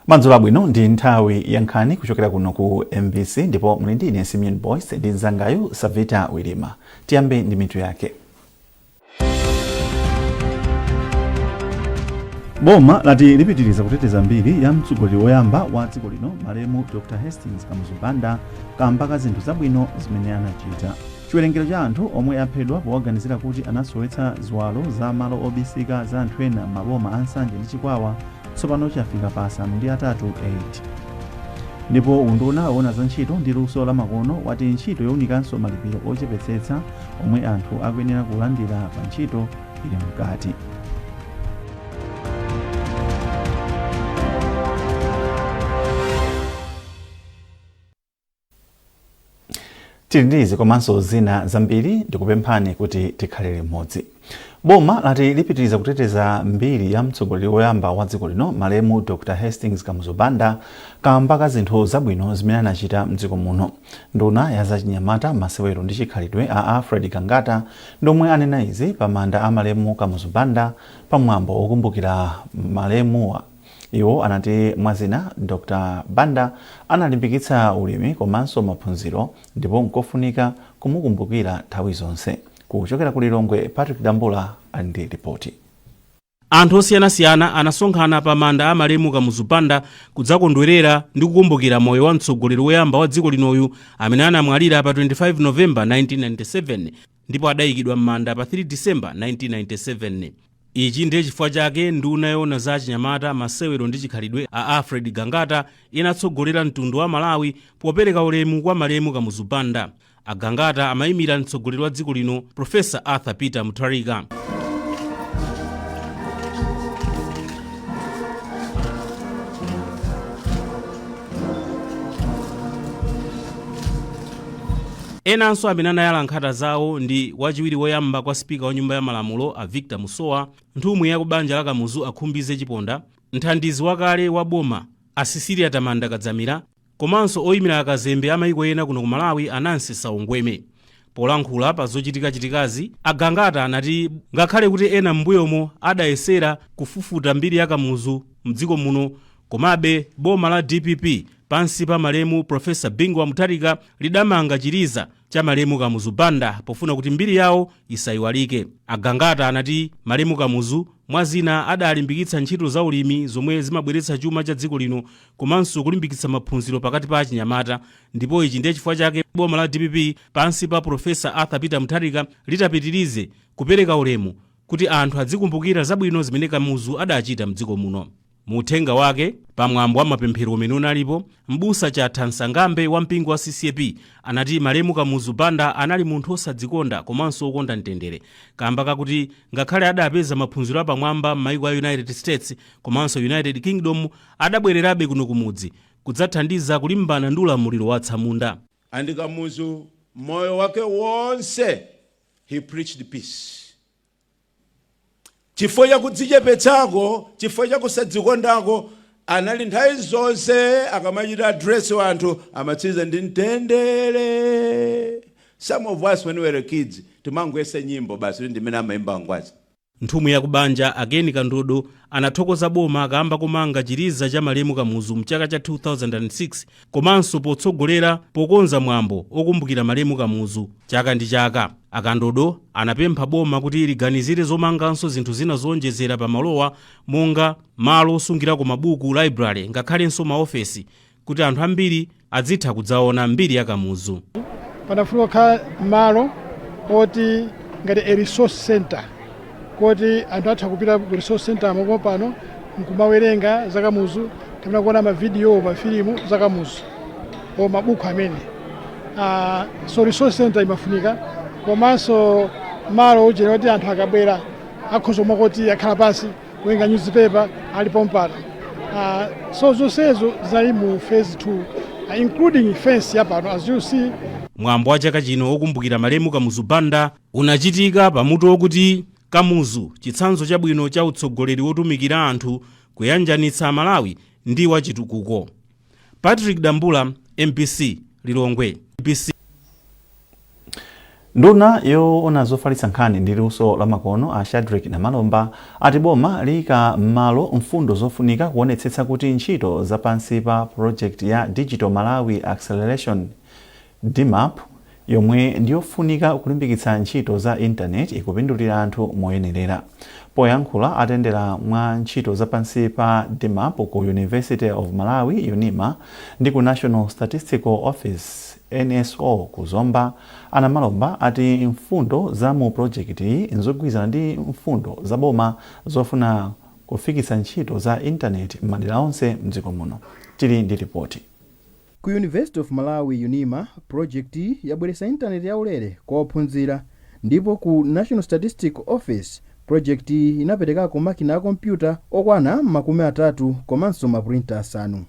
madzulo abwino ndi nthawi ya nkhani kuchokera kuno ku mbc ndipo muli ndi ine simeon boyce ndi mzangayu savita wilima tiyambe ndi mitu yake boma lati lipitiriza kuteteza mbiri ya mtsogoleri woyamba wa dziko lino malemu dr hastings kamuzu banda kamba ka zinthu zabwino zimene anachita Chiwerengero cha anthu omwe aphedwa powaganizira kuti anasowetsa ziwalo za malo obisika za anthu ena m'maboma a Nsanje ndi Chikwawa tsopano chafika pa asanu ndi atatu 8. Ndipo unduna woona za ntchito ndi luso lamakono wati ntchito younikanso malipiro ochepetsetsa omwe anthu akuyenera kulandira pa ntchito ili mkati. tili ndi izi komanso zina zambiri ndikupemphani kuti tikhale limodzi boma lati lipitiriza kuteteza mbiri ya mtsogoleri woyamba wa dziko lino malemu dr hastings kamuzu banda kamba ka zinthu zabwino zimene anachita mdziko muno nduna ya zachinyamata masewero ndi chikhalidwe a alfred gangata ndomwe anena izi pa manda a malemu kamuzu banda pa mwambo wokumbukira malemuwa Iwo anati mwa zina, Dr Banda analimbikitsa ulimi komanso maphunziro ndipo nkofunika kumukumbukira nthawi zonse. Kuchokera ku Lilongwe, Patrick Dambula ali ndi lipoti. Anthu osiyanasiyana anasonkhana pa manda a malemu Kamuzu Banda kudzakondwerera ndi kukumbukira moyo wa mtsogoleri woyamba wa dziko linoyu amene anamwalira pa 25 November 1997. ndipo adaikidwa m'manda pa 3 December 1997. Ichi ndiye chifukwa chake nduna yoona za achinyamata, masewero ndi chikhalidwe a Alfred Gangata inatsogolera mtundu wa Malawi popereka ulemu kwa malemu Kamuzu Banda. A Gangata amaimira mtsogoleri wa dziko lino Professor Arthur Peter Mutharika. Enanso amene anayala nkhata zawo ndi wachiwiri woyamba kwa Sipika wa Nyumba ya Malamulo a Victor Musowa, nthumwi ya ku banja la Kamuzu a Khumbize Chiponda, mthandizi wakale wa boma a Cecilia Tamanda Kadzamira komanso oimira akazembe a maiko ena kuno ku Malawi a Nancy Saungweme. Polankhula pa zochitikachitikazi, a Gangata anati ngakhale kuti ena m'mbuyomo adayesera kufufuta mbiri ya Kamuzu m'dziko muno, komabe boma la dpp Pansi pa malemu Prof. Bingu wa Mutharika lidamanga chiliza cha malemu Kamuzu Banda pofuna kuti mbiri yawo isaiwalike. A Gangata anati malemu Kamuzu mwa zina adalimbikitsa ntchito za ulimi zomwe zimabweretsa chuma cha dziko lino komanso kulimbikitsa maphunziro pakati pa achinyamata ndipo ichi ndiye chifukwa chake boma la dpp pansi pa Prof. Arthur Peter Mutharika litapitirize kupereka ulemu kuti anthu adzikumbukira zabwino zimene Kamuzu adachita m'dziko muno. Mu uthenga wake pa mwambo wa mapemphero umene unalipo, m'busa Chatha Msangaambe wa mpingo wa CCAP anati malemu Kamuzu Banda anali munthu osadzikonda komanso okonda mtendere kamba kakuti ngakhale adapeza maphunziro apamwamba m'maiko a United States komanso United Kingdom adabwererabe kuno kumudzi kudzathandiza kulimbana ndi ulamuliro wa atsamunda. And Kamuzu moyo wake wonse he preached peace. Chifukwa cha kudzichepetsako, chifukwa cha kusadzikondako, anali nthawi zonse akamachita address kwa anthu amatsiriza ndi mtendere. Some of us when we were kids timangoyesa nyimbo basi kuti ndimene amaimba angwazi. Nthumwi ya kubanja, a Ken Kandodo, anathokoza boma kaamba komanga chiliza cha malemu Kamuzu mchaka cha 2006 komanso potsogolera pokonza mwambo okumbukira malemu Kamuzu chaka ndi chaka, a Kandodo anapempha boma kuti liganizire zomanganso zinthu zina zoonjezera pa malowa monga malo osungirako mabuku, library, ngakhalenso ma ofesi kuti anthu ambiri adzitha kudzaona mbiri ya Kamuzu. Panafunika kukhala malo oti ngati a resource centre koti anthu atha kupita ku resource center komko pompano nkumawerenga za kamuzu kapena kuona mavidiyo mafilimu za kamuzu or mabuku amene Ah, so resource center imafunika komanso malo ojera kuti anthu akabwera akhoza kumati akhala pansi kuwerenga newspaper ali pompano Ah, so zonsezo zinali mu phase 2 ah, including fence yapano as you see mwambo wa chaka chino wokumbukira malemu kamuzu banda Unachitika pa mutu wakuti Kamuzu, Chitsanzo Chabwino cha Utsogoleri Wotumikira Anthu, Kuyanjanitsa Amalawi ndi wa Chitukuko. Patrick Dambula, mbc, Lilongwe. Nduna yoona zofalitsa nkhani ndi luso lamakono a Shadric Namalomba ati boma liika m'malo mfundo zofunika kuonetsetsa kuti ntchito za pansi pa pulojekiti ya Digital Malawi Acceleration Dmap, yomwe ndi yofunika kulimbikitsa ntchito za Intaneti, ikupindulira anthu moyenerera. Poyankhula atayendera mwa ntchito za pansi pa Dmap ku University of Malawi, Unima, ndi ku National Statistical Office, NSO, ku Zomba, a Namalomba ati mfundo za mu pulojekitiyi n'zogwirizana ndi mfundo za boma zofuna kufikitsa ntchito za Intaneti m'madera onse m'dziko muno. Tili ndi lipoti. Ku University of Malawi, Unima, pulojekitiyi yabweretsa intaneti yaulere kwa ophunzira ndipo ku National Statistical Office pulojekitiyi inaperekako makina a kompyuta okwana makumi atatu komanso mapulinta asanu.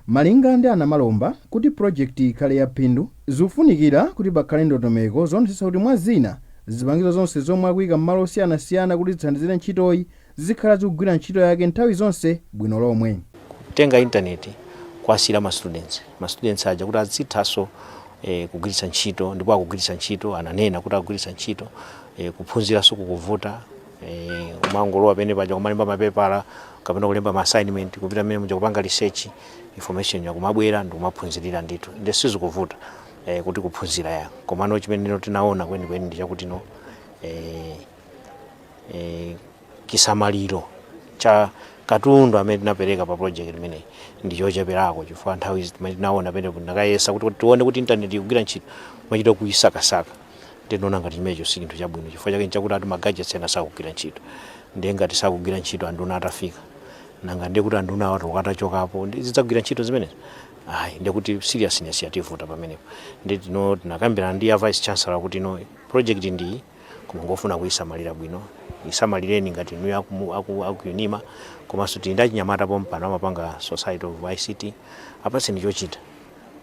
Malinga ndi a Namalomba, kuti pulojekitiyi ikhale ya phindu, zikufunikira kuti pakhale ndondomeko zoonetsetsa kuti mwa zina, zipangizo zonse zomwe akuika m'malo osiyanasiyana kuti zithandizire ntchitoyi zizikhala zikugwira ntchito yake nthawi zonse bwino lomwe. Kutenga intaneti kuwasiyira ma students ma students aja kuti azithanso eh, kugwiritsa ntchito ndipo akugwiritsa ntchito ananena kuti akugwiritsa ntchito eh, kuphunziranso sikukuvuta eh, umangolowa pene paja kumalemba mapepala kapena kulemba ma assignment kupita mmene muja kupanga research information ikumabwera ndikumaphunzirira ndithu nde sizikuvuta eh, kuti kuphunzira ya komano chimene tinaona kwenikweni ndi chakuti no eh, eh, chisamaliro cha katundu amene tinapereka pa project imeneyi ndi chocheperako chifukwa nthawi izi timene tinaona pamene tinakayesa kuti kuti tione kuti intaneti ikugwira ntchito timachita kuyisakasaka ndinaona ngati chimenecho si chinthu chabwino chifukwa chake nchakuti ati ma gadgets ena sakugwira ntchito ndiye ngati sakugwira ntchito anduna atafika nanga ndiye kuti anduna atati akatachokapo ndi- zidzagwira ntchito zimenezo ayi ndiye kuti seriousness yativuta pamenepo ndi tino tinakambirana ndi a vice chancellor kuti no project ndiyi koma ingofuna kuyisamalira bwino isamalireni ngati inuyo aku, aku, aku unima komanso tili ndi achinyamata pompano amapanga society of ict apatseni chochita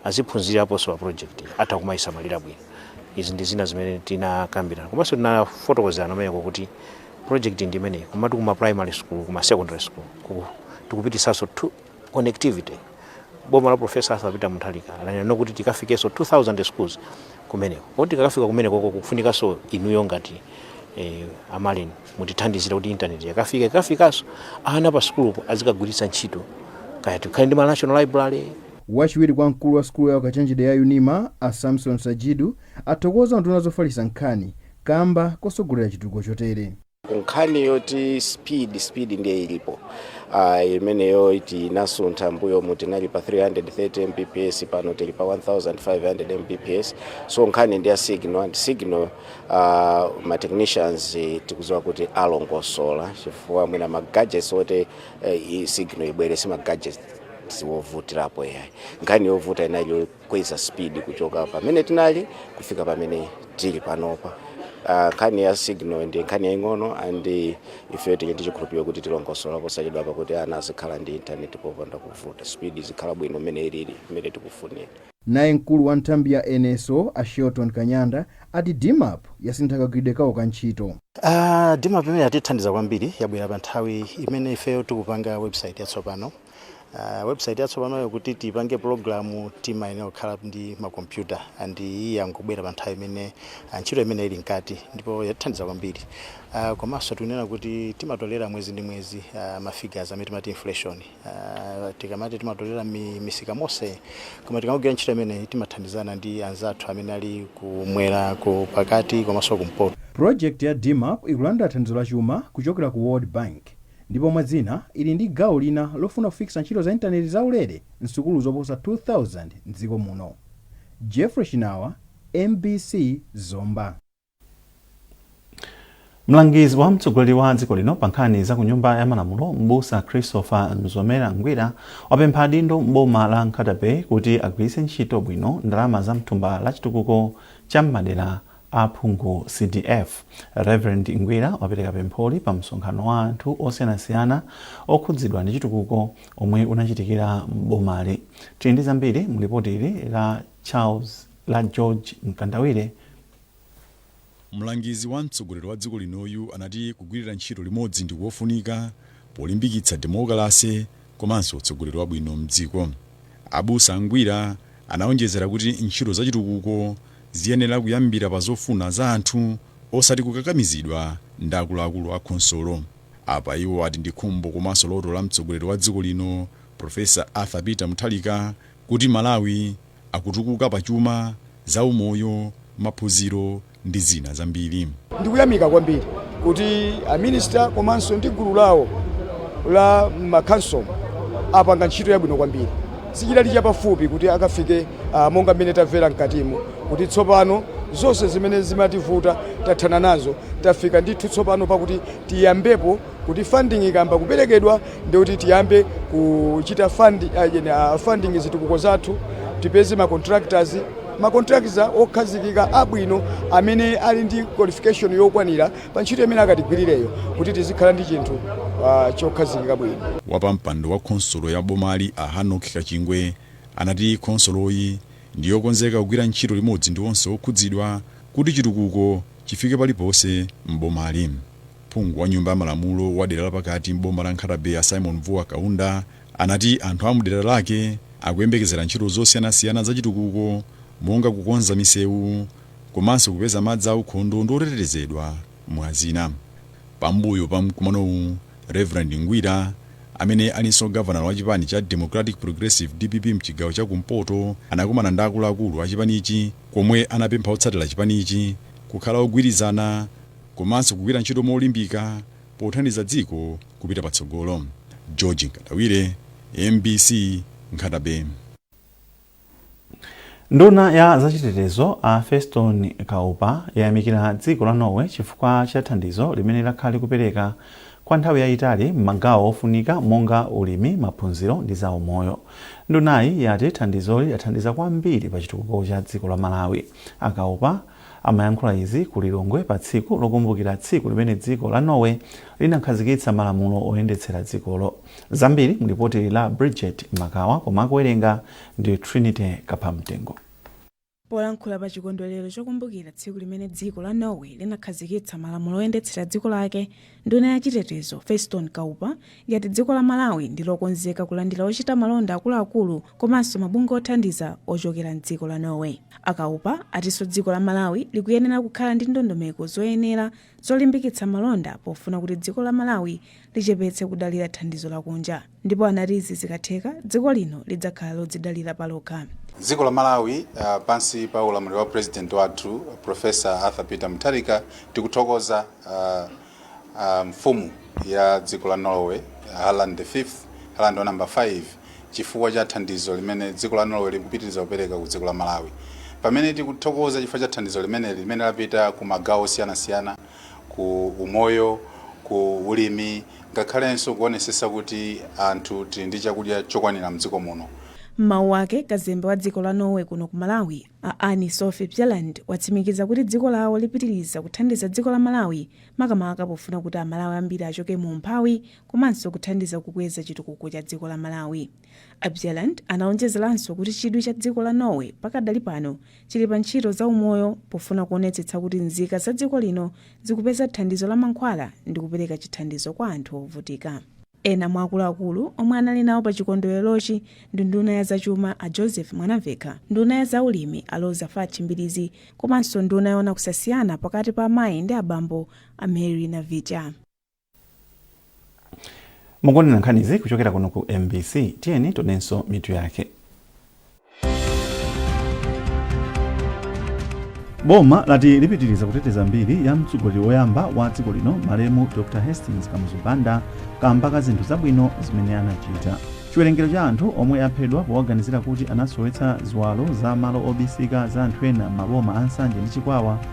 aziphunzirapo nso pa project atha kumayisamalira bwino izi ndi zina zimene tinakambirana komanso tinafotokozerana kumeneko kuti project ndi imeneyi komatu kuma primary school kuma secondary school ku- tikupititsanso two- connectivity boma la professor Arthur Peter Mutharika lanena kuti tikafikenso 2000 schools kumeneko kuti tikakafika kumeneko koko kufunikanso inuyo ngati eh, a MAREN mutithandizira kuti intaneti ikakafika ikafikanso ana pa sukulupo azikagwiritsa ntchito kaya tikhale ndi ma national library wachiwiri kwa mkulu wa sukulu ya ukachenjede ya Unima a Samson Sajidu athokoza nduna zofalitsa nkhani kamba kotsogolera chitukuko chotere nkhani yoti speed speed ndiye ilipo uh, imeneyo iti inasuntha mbuyomu tinali pa 330 mbps pano tili pa 1500 mbps so nkhani ndi ya signal and signal uh, ma technicians eh, tikudziwa kuti alongosola chifukwa mwina ma gadgets oti eh, i signal ibwere si ma gadgets ovutirapo yayi nkhani yovuta inali kweza speed kuchoka pamene tinali kufika pamene tili panopa Ah, nkhani ya signal ndi nkhani yaing'ono and ife tili ndi chikhulupiriro kuti tilongosola posachedwa pakuti ana azikhala ndi intaneti popanda kuvuta speed izikhala bwino mmene ilili mmene tikufunira Naye mkulu wa nthambi ya NSO a Shelton Kanyanda ati DMAP yasintha kagwiridwe kawo ka ntchito. Uh, DMAP imene yatithandiza kwambiri yabwera pa nthawi imene ifeyo tikupanga website yatsopano Uh, website yatsopanoyo kuti tipange pulogalamu timayenera kukhala ndi makompyuta and iyi yangobwera pa nthawi imene ah, ntchito imene ili mkati ndipo yatithandiza kwambiri uh, komanso tikunena kuti timatolera mwezi ndi mwezi uh, mafigures amene timati inflation uh, tikamati timatolera mi, misika monse koma tikamagwira ntchito imeneyi timathandizana ndi anzathu amene ali kumwera ku pakati komanso kumpoto Project ya DMAP ikulandira thandizo la chuma kuchokera ku World Bank Ndipo mwa zina, ili ndi gawo lina lofuna kufikitsa ntchito za intaneti za ulere m'sukulu zoposa 2,000 m'dziko muno. Geoffrey Chinawa, mbc, Zomba. Mlangizi wa mtsogoleri wa dziko lino pa nkhani za ku Nyumba ya Malamulo, m'busa Christopher Mzomera Ngwira, wapempha adindo m'boma la Nkhata Bay kuti agwiritse ntchito bwino ndalama za m'thumba la chitukuko cha m'madera Aphungu, CDF, Reverend Ngwira wapereka pempholi pa msonkhano wa anthu osiyanasiyana okhudzidwa ndi chitukuko omwe unachitikira m'bomali. Tili ndi zambiri mu lipoti ili la Charles la George Mkandawire. Mlangizi wa mtsogoleri wa dziko linoyu anati kugwirira ntchito limodzi ndikofunika polimbikitsa demokalase komanso utsogoleri wabwino m'dziko. Abusa Ngwira anaonjezera kuti ntchito za chitukuko ziyenera kuyambira pa zofuna za anthu osati kukakamizidwa ndi akuluakulu a khonsolo. Apa iwo ati ndi khumbo komanso loto la mtsogoleri wa dziko lino Prof. Arthur Peter Mutharika kuti Malawi akutukuka pa chuma, zaumoyo, maphunziro ndi zina zambiri. Ndikuyamika kwambiri kuti a Minister komanso ndi gulu lawo la ma council apanga ntchito yabwino kwambiri. Sichidali chapafupi kuti akafike ah, monga mmene tamvera mkatimo kuti tsopano zonse zimene zimativuta tathana nazo tafika ndithu tsopano pakuti tiyambepo Kuti funding ikayamba kuperekedwa ndiye kuti tiyambe kuchita fund, uh, funding zitukuko zathu tipeze ma contractors ma contractors okhazikika abwino amene ali ndi qualification yokwanira pa ntchito imene akatigwirireyo kuti tizikhala ndi chinthu uh, chokhazikika bwino. Wapampando wa khonsolo ya bomali a Hanock Kachingwe anati khonsoloyi ndi yokonzeka kugwira ntchito limodzi ndi onse okhudzidwa kuti chitukuko chifike paliponse m'bomali. Phungu wa Nyumba ya Malamulo wa dera la pakati m'boma la Nkhata Bay a Symon Vuwa Kaunda anati anthu a mdera lake akuyembekezera ntchito zosiyanasiyana za chitukuko monga kukonza misewu komanso kupeza madzi aukhondo ndi otetezedwa mwa zina. Pambuyo pa mkumanowu, Reverend Ngwira amene alinso gavanala wa chipani cha Democratic Progressive dpp mchigawo cha kumpoto anakumana ndi akuluakulu a chipanichi komwe anapempha otsatira chipanichi kukhala ogwirizana komanso kugwira ntchito molimbika pothandiza dziko kupita patsogolo. George Nkandawire, mbc, Nkhata-Bay. Nduna ya zachitetezo a Feston Kaupa yayamikira dziko la Norway chifukwa cha thandizo limene lakhala kupereka kwa nthawi yayitali m'magawo ofunika monga ulimi, maphunziro ndi zaumoyo. Ndunayi yati thandizoli lathandiza kwambiri pa chitukuko cha dziko la Malawi. A Kaupa. Amayankhula izi ku Lilongwe pa tsiku lokumbukira tsiku limene dziko la Norway linakhazikitsa malamulo oyendetsera dzikolo. Zambiri mlipoti la Bridget Makawa koma akuwerenga ndi Trinity Kaphamtengo. Polankhula pa chikondwerero chokumbukira tsiku limene dziko la Norway linakhazikitsa malamulo oyendetsera dziko lake, Nduna ya chitetezo, Feston Kaupa, yati dziko la Malawi ndi lokonzeka kulandira ochita malonda akuluakulu komanso mabungwe othandiza ochokera m'dziko la Norway. A Kaupa atinso dziko la Malawi likuyenera kukhala ndi ndondomeko zoyenera zolimbikitsa malonda pofuna kuti dziko la Malawi lichepetse kudalira thandizo lakunja. Ndipo anati izi zikatheka, dziko lino lidzakhala lodzidalira palokha. Dziko la Malawi pansi pa ulamuliro wa President wathu Professor Arthur Peter Mutharika tikuthokoza Mfumu ya dziko la Norway Harald the 5th, Harald wa number 5, chifukwa cha thandizo limene dziko la Norway likupitiriza kupereka ku dziko la Malawi. Pamene tikuthokoza chifukwa cha thandizo limene limene lapita ku magawo osiyanasiyana, ku umoyo, ku ulimi ngakhalenso kuonesetsa kuti anthu tili ndi chakudya chokwanira mdziko muno. M'mawu ake, kazembe wa dziko la Norway kuno ku Malawi, a Anne Sofie Bjelland watsimikiza kuti dziko lawo lipitiriza kuthandiza dziko la Malawi makamaka pofuna kuti a Malawi ambiri achoke mu umphawi komanso kuthandiza kukweza chitukuko cha dziko la Malawi. A Bjelland anaonjezeranso kuti chidwi cha dziko la Norway pakadali pano chili pa ntchito za umoyo pofuna kuonetsetsa kuti nzika za dziko lino zikupeza thandizo la mankhwala ndi kupereka chithandizo kwa anthu ovutika. Ena mwa akuluakulu omwe anali nawo pa chikondwererochi ndi nduna ya zachuma a Joseph Mwanamvekha, nduna ya za ulimi a Roza Fatch Mbilizi komanso nduna yoona kusasiyana pakati pa amayi ndi abambo a Mary Navicha. mukuonera nkhanizi kuchokera kuno ku mbc tiyeni tionenso mitu yake boma lati lipitiriza kuteteza mbiri ya mtsogoleri woyamba wa dziko lino malemu dr hastings kamuzu banda kamba ka zinthu zabwino zimene anachita chiwerengero cha anthu omwe aphedwa powaganizira kuti anasowetsa ziwalo za malo obisika za anthu ena m'maboma a nsanje ndi chikwawa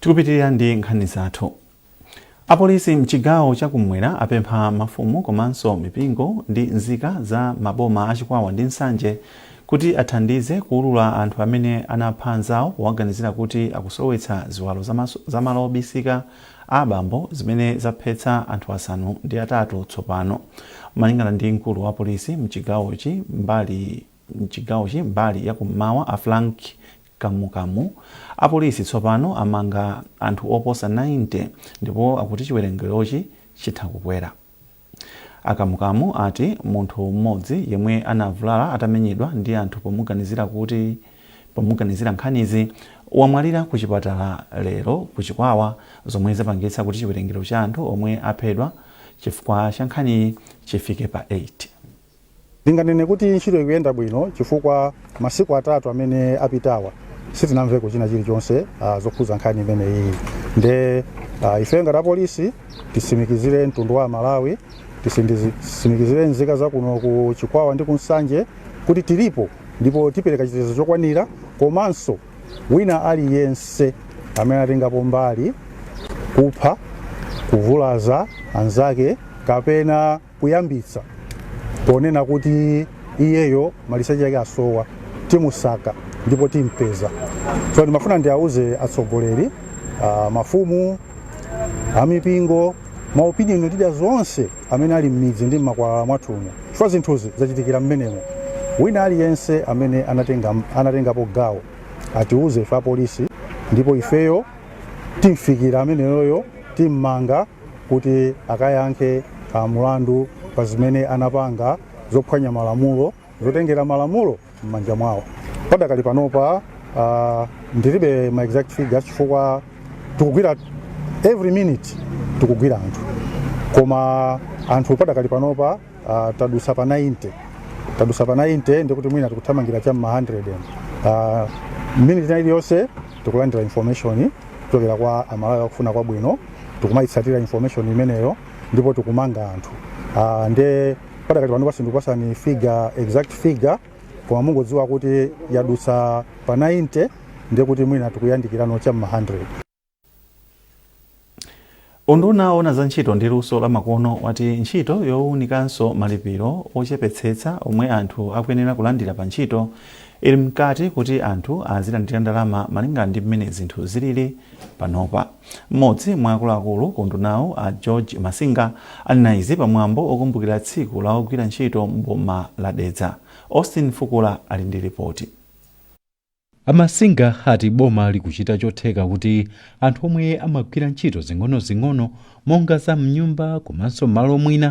Tikupitilira ndi nkhani zathu. Apolisi mchigawo cha kummwera apempha mafumu komanso mipingo ndi nzika za maboma a Chikwawa ndi Nsanje kuti athandize kuwulula anthu amene anapha anzawo powaganizira kuti akusowetsa ziwalo za malo obisika a abambo zimene zaphetsa anthu asanu ndi atatu tsopano. Malingana ndi mkulu wa polisi mchigawochi mbali Mchigawochi mbali ya kum'mawa a Frank Kamukamu, apolisi tsopano amanga anthu oposa 90 ndipo akuti chiwerengerochi chitha kukwera. A Kamukamu ati munthu m'modzi yemwe anavulala atamenyedwa ndi anthu pomuganizira nkhanizi, wamwalira ku chipatala lero ku Chikwawa zomwe zapangitsa kuti chiwerengero cha anthu omwe aphedwa chifukwa cha nkhaniyi chifike pa 8. Ndinganene kuti ntchito ikuyenda bwino chifukwa masiku atatu amene apitawa sitinamveko china chilichonse ah, zokhuza nkhani imene iyi nde ah, ife ngati apolisi tisimikizire mtundu wa amalawi tisimikizire nzika za kuno ku chikwawa ndi ku nsanje kuti tilipo ndipo tipereka chitetezo chokwanira komanso wina aliyense amene atengapo mbali kupha kuvulaza anzake kapena kuyambitsa ponena kuti iyeyo maliseche yake asowa timusaka ndipo timpeza so ndimafuna ndiauze atsogoleri uh, mafumu amipingo maopinion leaders onse amene ali m'midzi ndi m'makwalala mwathumu chifukwa zinthuzi zachitikira mmenemo wina aliyense amene anatengapo gawo atiuze ife apolisi ndipo ifeyo timfikira ameneyoyo timmanga kuti akayankhe a mulandu pa zimene anapanga zophwanya malamulo zotengera malamulo m'manja mwawo padakali panopa a ndilibe ma exact figures chifukwa tikugwira every minute tikugwira anthu koma anthu padakali panopa Uh, tadusa pa 90 tadusa pa 90 ndikuti mwina tikuthamangira cha m'ma 100 uh, minute ina iliyonse tikulandira information kuchokera kwa amalawi akufuna kwabwino tikumayitsatira information imeneyo ndipo tikumanga anthu uh, nde padakati panopa sindikupasani figure exact figure koma mungodziwa kuti yadusa pa 90 ndikuti mwina tikuyandikirano cha m'ma 100 Unduna oona za ntchito ndi luso la makono wati ntchito yowunikanso malipiro ochepetsetsa omwe anthu akuyenera kulandira pa ntchito ili mkati kuti anthu azilandira ndalama malingana ndi mmene zinthu zilili panopa. Mmodzi mwa akuluakulu ku undunawu a George Masinga anena izi pa mwambo okumbukira tsiku la ogwira ntchito m'boma la Dedza. Austin Fukula ali ndi ripoti. A Masinga ati boma likuchita chotheka kuti anthu omwe amagwira ntchito zing'onozing'ono monga za mnyumba komanso mmalo mwina,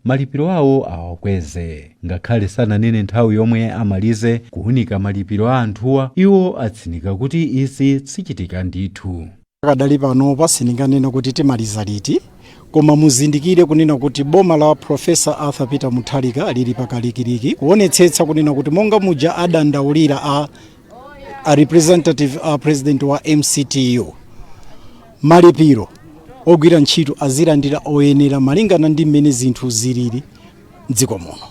malipiro awo awakweze. Ngakhale sananene nthawi yomwe amalize kuwunika malipiro a anthuwa, iwo atsindika kuti izi zichitika ndithu. Pakadali panopa sindinganene kuti timaliza liti koma muzindikire kunena kuti boma la Professor Arthur Peter Mutharika lili pakalikiliki kuonetsetsa kunena kuti monga muja adandaulira a, a representative a president wa MCTU malipiro ogwira ntchito azilandira oyenera malingana ndi mmene zinthu zilili mdziko muno.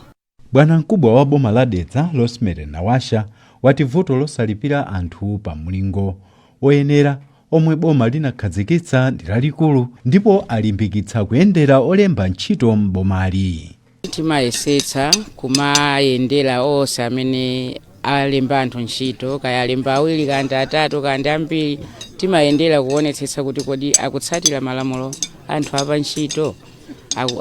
Bwanamkubwa wa boma la Dedza Rosemary Nawasha wati vuto losalipira anthu pa mlingo oyenera omwe boma linakhazikitsa ndi lalikulu ndipo alimbikitsa kuyendera olemba ntchito m'bomali. Timayesetsa kumayendera onse amene alemba anthu ntchito, kaya alemba awiri, kaya ndi atatu, kaya ndi ambiri, timayendera kuonetsetsa kuti kodi akutsatira malamulo anthu apa ntchito,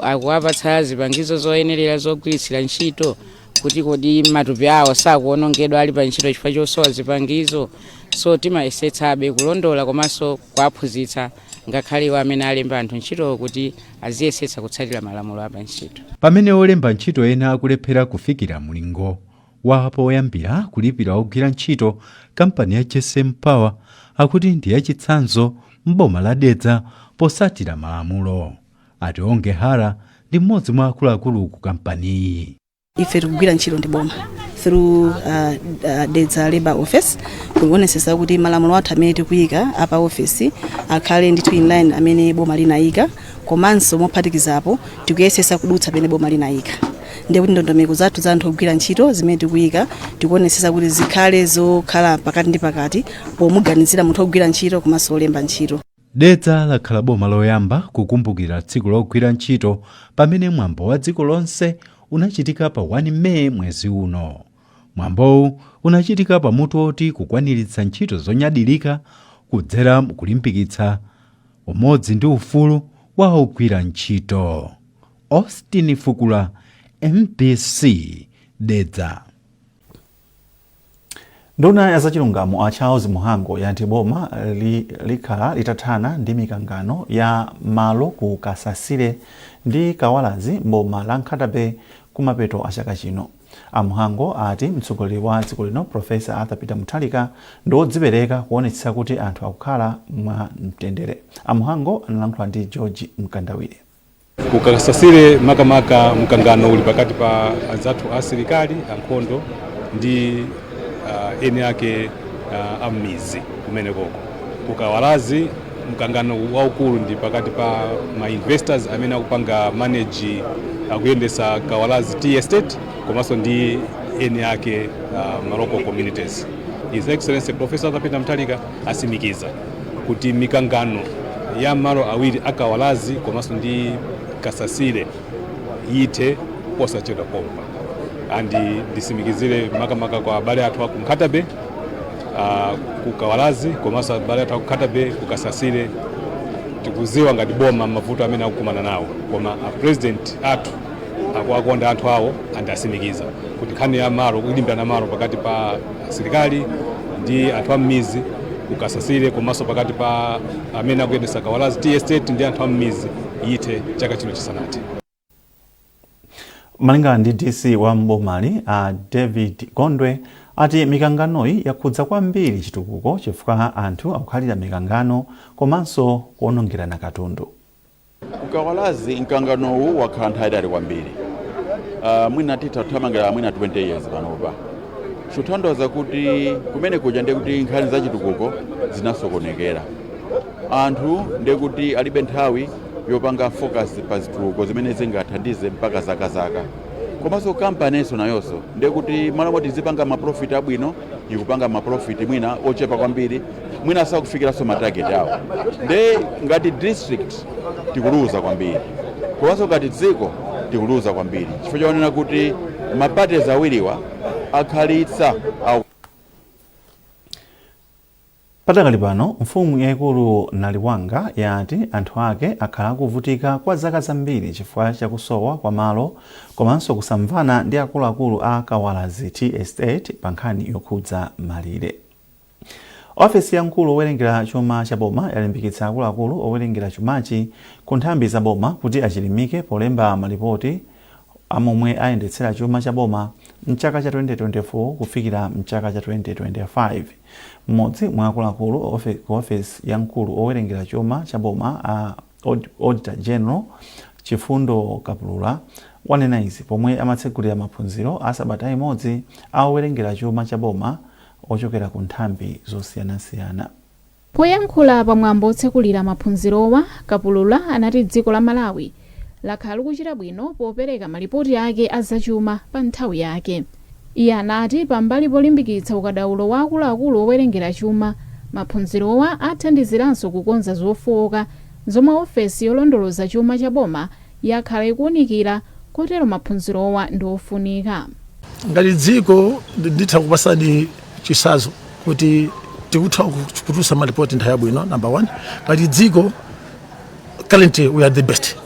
akuwapatsa zipangizo zoyenerera zogwiritsira ntchito, kuti kodi matupi awo sakuwonongedwa ali pa ntchito chifukwa chosowa zipangizo. So timayesetsabe kulondola komanso kuwaphunzitsa ngakhale iwo amene alemba anthu ntchitowo kuti aziyesetsa kutsatira malamulo apa ntchito. Pamene olemba ntchito ena akulephera kufikira mlingo Wapoyambira kulipira ogwira ntchito kampani ya JSM Power akuti ndi yachitsanzo m'boma la Dedza posatira malamulo. A Tionge Hara ndi m'modzi mwa akuluakulu ku kampaniyi. Ife tikugwira ntchito ndi boma through uh, uh, Dedza Labour Office kuonesesa kuti malamulo athu amene tikuyika apa office akhale ndithu in line amene boma linayika. komanso mophatikizapo tikuyesetsa kudutsa pene boma linayika ndiye kuti ndondomeko zathu za anthu ogwira ntchito zimene tikuyika tikuonetsetsa kuti zikhale zokhala pakati ndi pakati pomuganizira munthu ogwira ntchito komanso olemba ntchito Dedza lakhala boma loyamba kukumbukira tsiku logwira ntchito pamene mwambo wa dziko lonse unachitika pa 1 Meyi mwezi uno. Mwambowu unachitika pa mutu woti kukwaniritsa ntchito zonyadilika kudzera mkulimbikitsa Umodzi ndi ufulu wa ogwira ntchito. Austin Fukula, mbc, Dedza. Nduna ya zachilungamo a Charles Mhango yati boma likhala litathana ndi mikangano ya malo ku Kasasire ndi Kawalazi m'boma la Nkhata Bay kumapeto a chaka chino. A Mhango ati mtsogoleri wa dziko lino Professor Arthur Peter Mutharika ndi wodzipereka kuonetsetsa kuti anthu akukhala mwa mtendere. A Mhango analankhula ndi George Mkandawire. Ku Kasasire makamaka mkangano uli pakati pa anzathu asilikali ankhondo ndi uh, eni ake uh, ammizi kumenekoko. Ku Kawalazi mkangano waukulu ndi pakati pa ma investors amene akupanga manage akuyendesa kawalazi tea estate komanso ndi eni ake uh, ma local communities his excellency Professor Arthur Peter Mutharika asimikiza kuti mikangano ya malo awiri a Kawalazi komanso ndi kasasire yithe posachedwa pompa and ndisimikizire makamaka kwa abale athu aku Nkhata Bay uh, ku kawalazi komanso abale athu aku Nkhata Bay ku kasasire tikuziwa ngati boma mavuto amene akukumana nawo koma a president athu akuwakonda anthu awo and asimikiza kuti nkhani ya malo kulimbirana malo pakati pa asilikali ndi anthu ammizi ku Kasasire komanso pakati pa amene akuyendesa kawalazi tea estate ndi anthu ammizi yithe chaka chino chisanathe Malingana ndi DC wa m'bomali, a David Gondwe, ati mikanganoyi yakhudza kwambiri chitukuko chifukwa anthu akukhalira mikangano komanso kuonongerana katundu. Ku Kawalazi mkanganowu wakhala nthawi yaitali kwambiri, ah, mwina titha kuthamangira mwina 20 years panopa, chotanthauza kuti kumene kuja ndiye kuti nkhani za chitukuko zinasokonekera, anthu ndiye kuti alibe nthawi. yopanga focus pa zitukuko zimene zingathandize mpaka zaka zaka komanso kampaninso nayonso ndiye kuti m'malo moti izipanga maprofit abwino ikupanga maprofit mwina ochepa kwambiri mwina asakufikiranso matarget awo nde ngati district tikuluza kwambiri komanso ngati dziko tikuluza kwambiri chifukwa choonena kuti maparties awiriwa akhalitsa Padakali pano, mfumu yaikulu Naliwanga yati anthu ake akhala akuvutika kwa zaka zambiri chifukwa cha kusowa kwa malo komanso kusamvana ndi akuluakulu a Kawalazi Tea Estate pa nkhani yokhudza malire. Ofesi ya mkulu owerengera chuma cha boma yalimbikitsa akuluakulu owerengera chumachi ku nthambi za boma kuti achilimike polemba malipoti a momwe ayendetsera chuma cha boma m'chaka cha 2024 kufikira m'chaka cha 2025. M'modzi mwa akuluakulu ku ofesi ya mkulu owerengera chuma cha boma a Auditor General, Chifundo Kapulula, wanena izi pomwe amatsegulira maphunziro a sabata imodzi a owerengera chuma cha boma ochokera ku nthambi zosiyanasiyana. Poyankhula pa mwambo otsekulira maphunzirowa, Kapulura anati dziko la Malawi lakhala likuchita bwino popereka malipoti ake a zachuma pa nthawi yake. Iye anati pambali polimbikitsa ukadaulo wa akuluakulu owerengera chuma, maphunzirowa athandiziranso kukonza zofooka zomwe ofesi yolondoloza chuma cha boma yakhala ikuunikira kotero maphunzirowa ndi ofunika. Ngati dziko nditha kupasani chisazo kuti tikutha kutulusa malipoti nthawi yabwino number one ngati dziko currently we are the best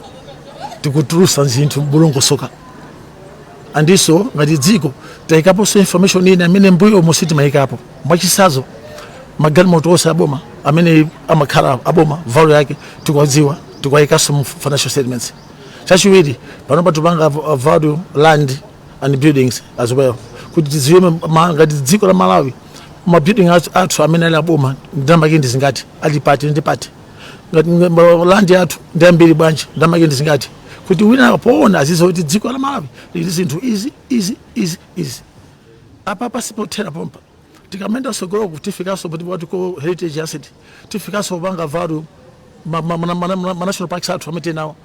tikutulusa zinthu mwadongosoka andiso ngati dziko taikaponso information ina amene mbuyo umo sitimaikapo mwachisazo magalimoto onse aboma amene amakhala aboma value yake tikuwadziwa tikuwaikaso mu financial statements chachiwiri panopa tipanga value land and buildings as well kuti tiziwe ngati dziko la malawi mabuilding athu amene ali aboma ndamake ndi zingati ali pati ndi pati ngati land yathu ndi ambiri bwanji ndamake ndi zingati kuti wina poona aziziwa kuti dziko la malawi lili ndi zinthu izi izi izi izi apa pasipothera pompa tikamaenda tsogoloku tifikaso poti poti ko heritage asset tifikaso kupanga value ma national parks athu amene tinawo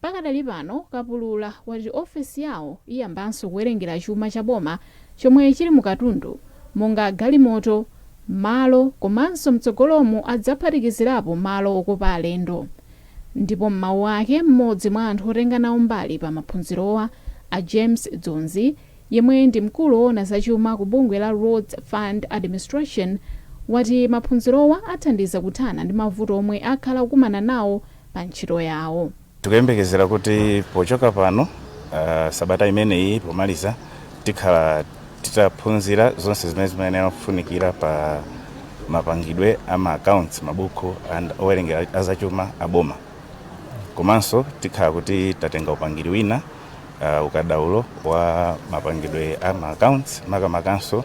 Pakadali pano, Kapulula wati ofesi yawo iyambanso kuwerengera chuma cha boma chomwe chili mu katundu monga galimoto, malo komanso mtsogolomu adzaphatikizirapo malo okopa alendo. Ndipo m'mawu ake, m'modzi mwa anthu otenga nawo mbali pa maphunzirowa, a James Dzonzi, yemwe ndi mkulu owona za chuma ku bungwe la Roads Fund Administration, wati maphunzirowa athandiza kuthana ndi mavuto omwe akhala kukumana nawo pa ntchito yawo. Tikuyembekezera kuti pochoka pano sabata imeneyi pomaliza tikhala titaphunzira zonse zimene zimayenera kufunikira pa mapangidwe a ma accounts, mabuku owerengera a zachuma a boma komanso tikhala kuti tatenga upangiri wina. uh, ukadaulo wa mapangidwe a ma accounts makamakanso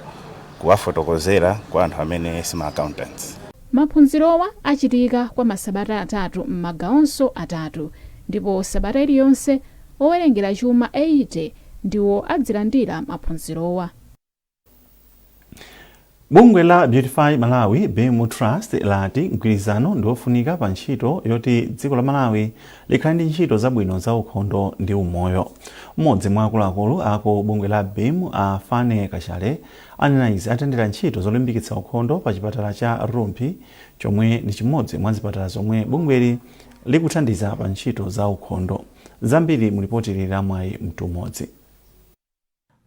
kuwafotokozera kwa anthu amene si ma accountants maphunzirowa achitika kwa masabata atatu m'magawonso atatu ndipo sabata iliyonse owerengera chuma 80 ndiwo adzilandira maphunzirowa bungwe la beautify malawi beam trust lati mgwirizano ndi wofunika pa ntchito yoti dziko la malawi likhale ndi ntchito zabwino za ukhondo ndi umoyo mmodzi mwa akuluakulu a ku bungwe la beam a fanny kachale anenaizi atendera ntchito zolimbikitsa ukhondo pa chipatala cha rumphi chomwe ndi chimodzi mwa zipatala zomwe bungweli likuthandiza pa ntchito za ukhondo zambiri mu lipoti ili la mwayi mtumodzi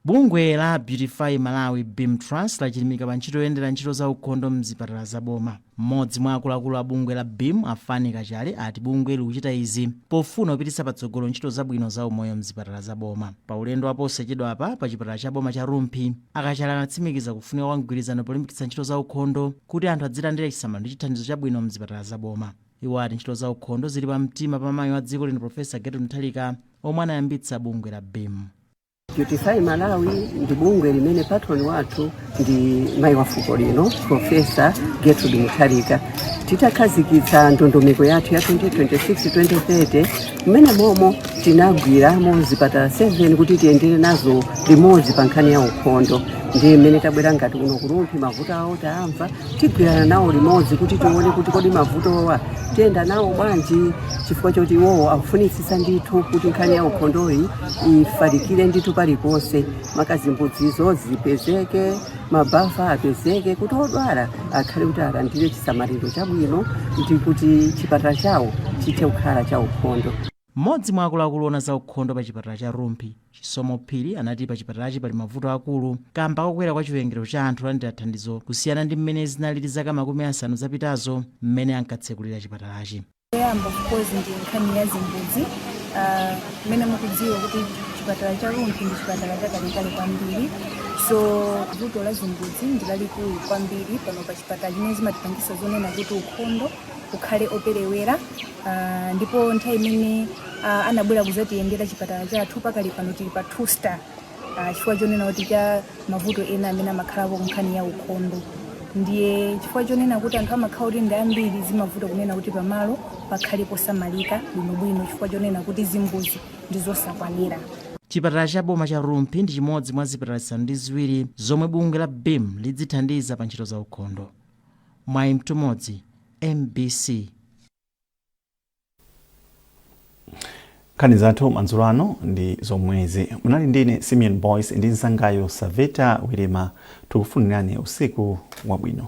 Bungwe la Beautify Malawi, beam Trust, lachilimika pa ntchito yoyendera ntchito za ukhondo m'zipatala za boma. M'modzi mwa akuluakulu a bungwe la beam, a Fanny Kachale, ati bungweli likuchita izi pofuna kupititsa patsogolo ntchito zabwino za umoyo m'zipatala za boma. Pa ulendo wa posachedwapa pa chipatala cha boma cha Rumphi, a Kachale anatsimikiza kufunika kwa mgwirizano polimbikitsa ntchito za ukhondo kuti anthu adzilandira chisamaliro ndi chithandizo chabwino m'zipatala za boma. Iwo ati ntchito za ukhondo zili pa mtima pa mayi wa dziko lino Professor Gertrude Mutharika omwe anayambitsa bungwe la beam. Beautify Malawi ndi bungwe limene patron wathu ndi mayi wa fuko lino Professor Gertrude Mutharika. Titakhazikitsa ndondomeko yathu ya 2026-2030 mmene momo tinagwiramo zipatala 7 kuti tiyendere nazo limodzi pa nkhani ya ukhondo ndiye mmene tabwera ngati kuno ku Rumphi mavuto awo taamva tigwirana nawo limodzi kuti tione kuti kodi mavutowa tiyenda nawo bwanji chifukwa choti iwowo akufunitsitsa ndithu kuti nkhani ya ukhondoyi ifalikire ndithu paliponse maka zimbudzizo zipezeke mabafa apezeke kuti odwala akhale kuti alandire chisamaliro chabwino ndi kuti chipatala chawo chithe kukhala cha ukhondo Mmodzi mwa akuluakulu oona za ukhondo pa chipatala cha Rumphi, Chisomo Phiri anati pa chipatalachi pali mavuto akulu kamba kokwera kwa chiwerengero cha anthu olandira thandizo kusiyana ndi mmene zinalili zaka makumi asanu zapitazo mmene ankatsekulira chipatalachi. Choyamba of course ndi nkhani ya zimbudzi ah, mmene mukudziwa kuti chipatala cha Rumphi ndi chipatala chakalekale kwambiri so vuto la zimbudzi ndi lalikulu kwambiri pano pa chipatala chimene zimatipangisa zonena kuti ukhondo ukhale operewera uh, ndipo nthawi imene uh, anabwera kuzatiyendera chipatala chathu pakali pano chili pa two star uh, chifukwa chonena kuti cha mavuto ena amene amakhalapo kunkhani ya ukhondo ndiye chifukwa chonena kuti anthu amakhala kuti ndi ambiri zimavuta kunena kuti pamalo pakhale posamalika bwinobwino chifukwa chonena kuti zimbuzi ndi zosakwanira chipatala cha boma cha rumphi ndi chimodzi mwa zipatala zisanu ndi ziwiri zomwe bungwe la beam lidzithandiza pa ntchito za ukhondo Mwayi Mtumodzi, mbc. Nkhani zathu madzulo ano ndi zomwezi. Munali ndi ine Simeon Boyce ndi mnzangayu Saveta Wirima. Tikufunirani usiku wabwino.